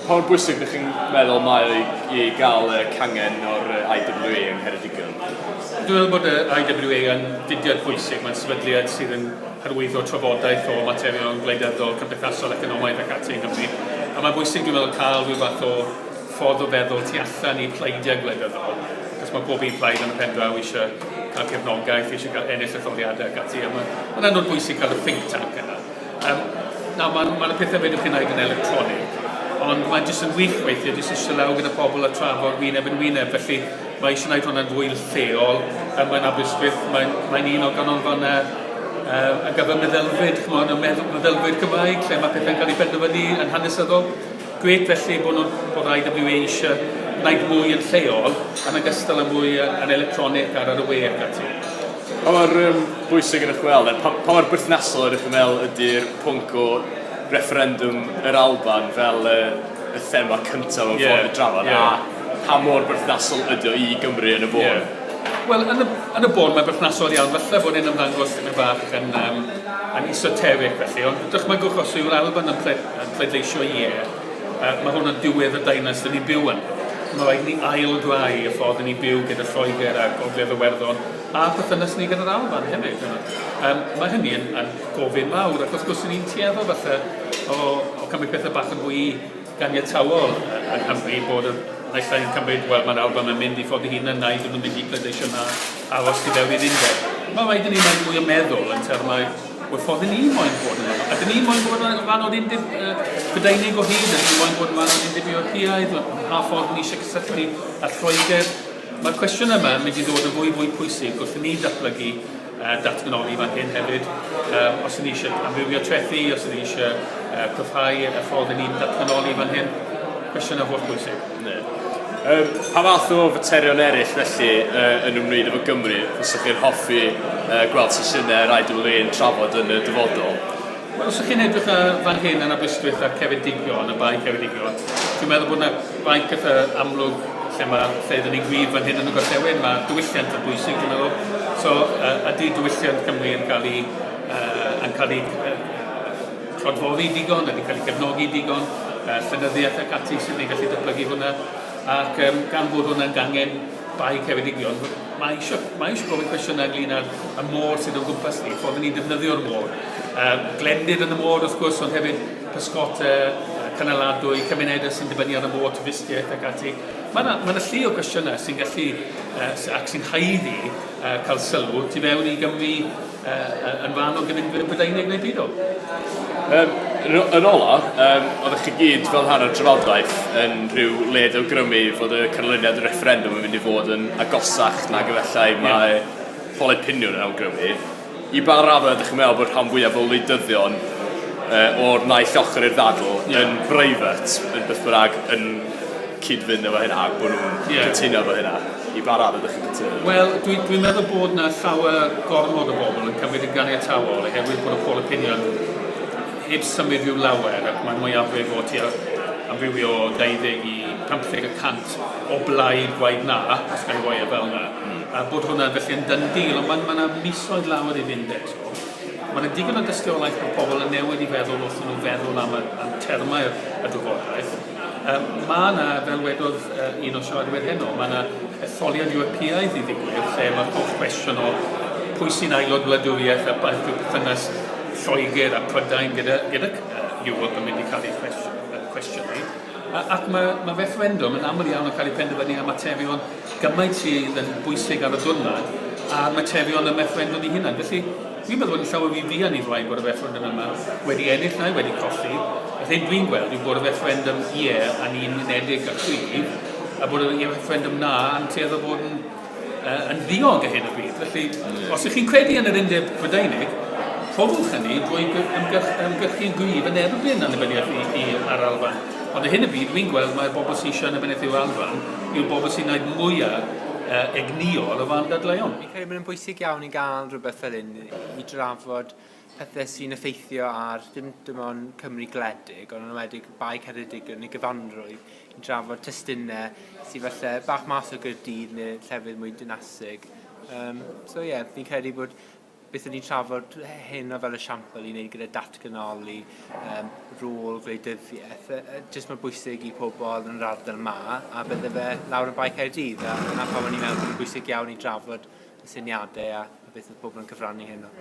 Pa mor bwysig ydych chi'n meddwl mae o i gael y cangen o'r IWA yng Ngheredigion? Dwi'n meddwl bod yr IWA yn fudiad bwysig. Mae'n sefydliad sydd yn hyrwyddo trafodaeth o materion gwleidyddol, cymdeithasol, economaidd ac ati yng Nghymru. A mae'n bwysig, dwi'n meddwl, cael rhyw fath o ffordd o feddwl tu allan i pleidiau gwleidyddol, achos mae pob un plaid yn y pen draw eisiau cael cefnogaeth, eisiau cael ennill etholiadau ac ati. A mae'n anodd bwysig cael y think tank yna. Um, na, mae'n ma y pethau fedrwch chi'n gwneud yn electronig, ond mae'n jyst yn wych weithio, jyst eisiau law gyda pobl a trafod wyneb yn wyneb, felly mae eisiau gwneud hwnna'n fwy lleol, um, mae'n Aberystwyth, mae'n mae un o ganolfannau um, ar gyfer meddylfryd, chymod, y meddylfryd Cymraeg, lle mae pethau'n cael ei benderfynu yn hanesyddol. Gret felly bod, nhw, bod IWA eisiau gwneud mwy yn lleol, yn ogystal â mwy yn electronig ar yr y we ac ati. Pa mor yym bwysig ydych chi'n meddwl, neu pa pa mor berthnasol ydych chi'n meddwl ydy'r pwnc o refferendwm yr Alban fel y y thema cyntaf mewn ffordd i drafod, a pa mor berthnasol ydy o i Gymru yn y bôn? Ie. Wel, yn y yn y bôn mae'n berthnasol iawn. Falle bod e'n ymddangos tipyn bach yn yym yn esoteric felly, ond dychmygwch os yw'r Alban yn pled- yn pleidleisio ie, Uh, mae hwn yn diwedd y dynas dyn ni'n byw yn. Mae rhaid ni ail-grau y ffordd ni byw gyda Lloegr a Gogledd Iwerddon a perthynas ni gyda'r Alban hefyd. Um, mae hynny yn, yn gofyn mawr ac wrth gwrs ni'n tueddu falle o, o cymryd pethau bach yn fwy ganiatawol yng Nghymru bod y naill ai'n cymryd, wel mae'r Alban yn mynd i ffod i hun yna i ddim yn mynd i pleidleisio na aros i fewn i'r undeb. Mae rhaid i ni wneud mwy o meddwl yn termau Wel, ffordd ni moyn bod yn rhan, a dyn ni moyn bod yn rhan o'r un dib, uh, Prydeinig o hyd, dyn ni moyn bod yn rhan o'r un dib Ewropeaidd, pa ffordd ni eisiau cysylltu â'r Lloegr. Mae'r cwestiwn yma yn mynd i ddod yn fwy fwy pwysig wrth i ni datblygu uh, datganoli fan hyn hefyd. Uh, os ni eisiau amrywio trethi, os ni eisiau uh, cryfhau y ffordd ni'n datganoli fan hyn, cwestiwn o holl bwysig. Yym, pa fath o faterion eraill felly yy yn ymwneud efo Gymru fysa chi'n hoffi yy gweld sesiynau yr IWA'n trafod yn y dyfodol? Wel os 'ych chi'n edrych yy fan hyn yn Aberystwyth ar Ceredigion, y Bae Ceredigion, dwi'n meddwl bod 'na fainc eitha amlwg lle ma' lle 'dan ni'n gwlyb fan hyn yn y gorllewin, ma' diwylliant yn bwysig dwi'n meddwl, so yy ydi diwylliant Cymru yn ca'l 'i yy yn ca'l 'i yy cronfori digon, ydy cael ei gefnogi digon, uh, llenyddiaeth ac ati sydd wedi gallu datblygu hwnna, ac um, gan fod hwnna'n gangen bai cefedigion, mae eisiau, mae eisiau gofyn cwestiynau ynglyn â'r y môr sydd o'n gwmpas ni, ffordd ni'n defnyddio'r môr. Um, glendid yn y môr, wrth gwrs, ond hefyd pysgot uh, cynaladwy, cymunedau sy'n dibynnu ar y môr, twristiaeth ac ati. Mae yna ma llu o gwestiynau sy'n gallu uh, ac sy'n haeddu uh, cael sylw tu fewn i Gymru uh, yn fan o gyfundwyr y Brydeinig neu byd o? Um, yn ola, um, oeddech chi gyd fel rhan o'r trafodaeth yn rhyw led o grymu fod y canlyniad y referendum yn mynd i fod yn agosach na gyfellai mae yeah. poled piniwn yn awgrymu. I ba rafa ydych chi'n meddwl bod rhan fwyaf o wleidyddion uh, o'r naill ochr i'r ddadl yeah. yn breifat yn beth bynnag yn cyd-fynd efo hynna ac bod nhw'n yeah. cytuno efo hynna? I ba raddau ydych chi'n cytuno? Wel, dwi'n dwi meddwl bod yna llawer gormod o bobl yn cymryd yn ganiataol oherwydd bod y poll opinion heb symud i'w lawer ac mae mwyafrif o tua amrywio 20 i 50 y cant o blaid gwaith na, os gan roi e fel yna. Mm. A bod hwnna felly yn dyn dîl, ond mae yna ma misoedd lawer i fynd eto. Mae yna digon o dystiolaeth bod pobl yn newid i feddwl wrth nhw feddwl am y am termau'r y drafodaeth. Yy, mae yna, fel wedodd yy, un o'r siaradwyr heno, mae yna etholiad Ewropeaidd i ddigwydd lle mae'r holl gwestiwn o pwy sy'n aelod wladwriaeth a beth yw perthynas Lloegr a Prydain gyda, gyda Ewrop yn mynd i cael ei chwestiynu. A, ac mae, mae refferendwm yn aml iawn yn cael ei penderfynu am materion gymaint sydd yn bwysig ar y diwrnod a'r materion y refferendwm i hunan. Felly, Dwi'n meddwl bod yn llawer mwy fuan i flaen bod y refferendwm yma wedi ennill neu wedi colli. Yr hyn dwi'n gweld yw bod y refferendwm ie a ni'n unedig a chwi, a bod y refferendwm na yn tueddu bod yn, uh, yn ddiog a hyn o bryd. Felly, yeah. os ych chi'n credu yn yr undeb Brydeinig, rhoddwch hynny drwy ymgyrchu'n gryf yn erbyn annibyniaeth i, i ar Alban. Ond y hyn y byd, dwi'n gweld mae'r bobl sy'n eisiau annibyniaeth i'w Alban yw'r bobl sy'n gwneud mwyaf uh, egnïol o fan dadleuon. Credu bod e'n bwysig iawn i gael rhywbeth fel hyn i drafod pethau sy'n effeithio ar ddim dim ond Cymru gledig, ond yn ymwedig Bae Ceredig yn ei gyfanrwydd, i drafod testunau sy'n falle bach mas o Gyrdydd neu llefydd mwy dynasig. Um, so ie, yeah, fi'n credu bod beth o'n i'n trafod hyn o fel y siampl i wneud gyda datganoli um, rôl gwleidyddiaeth, uh, jyst mae bwysig i pobl yn yr ardal yma, a bydde fe lawr yn Bae Caerdydd, a dyna pam o'n i'n meddwl bod yn bwysig iawn i drafod y syniadau a beth oedd pobl yn cyfrannu heno.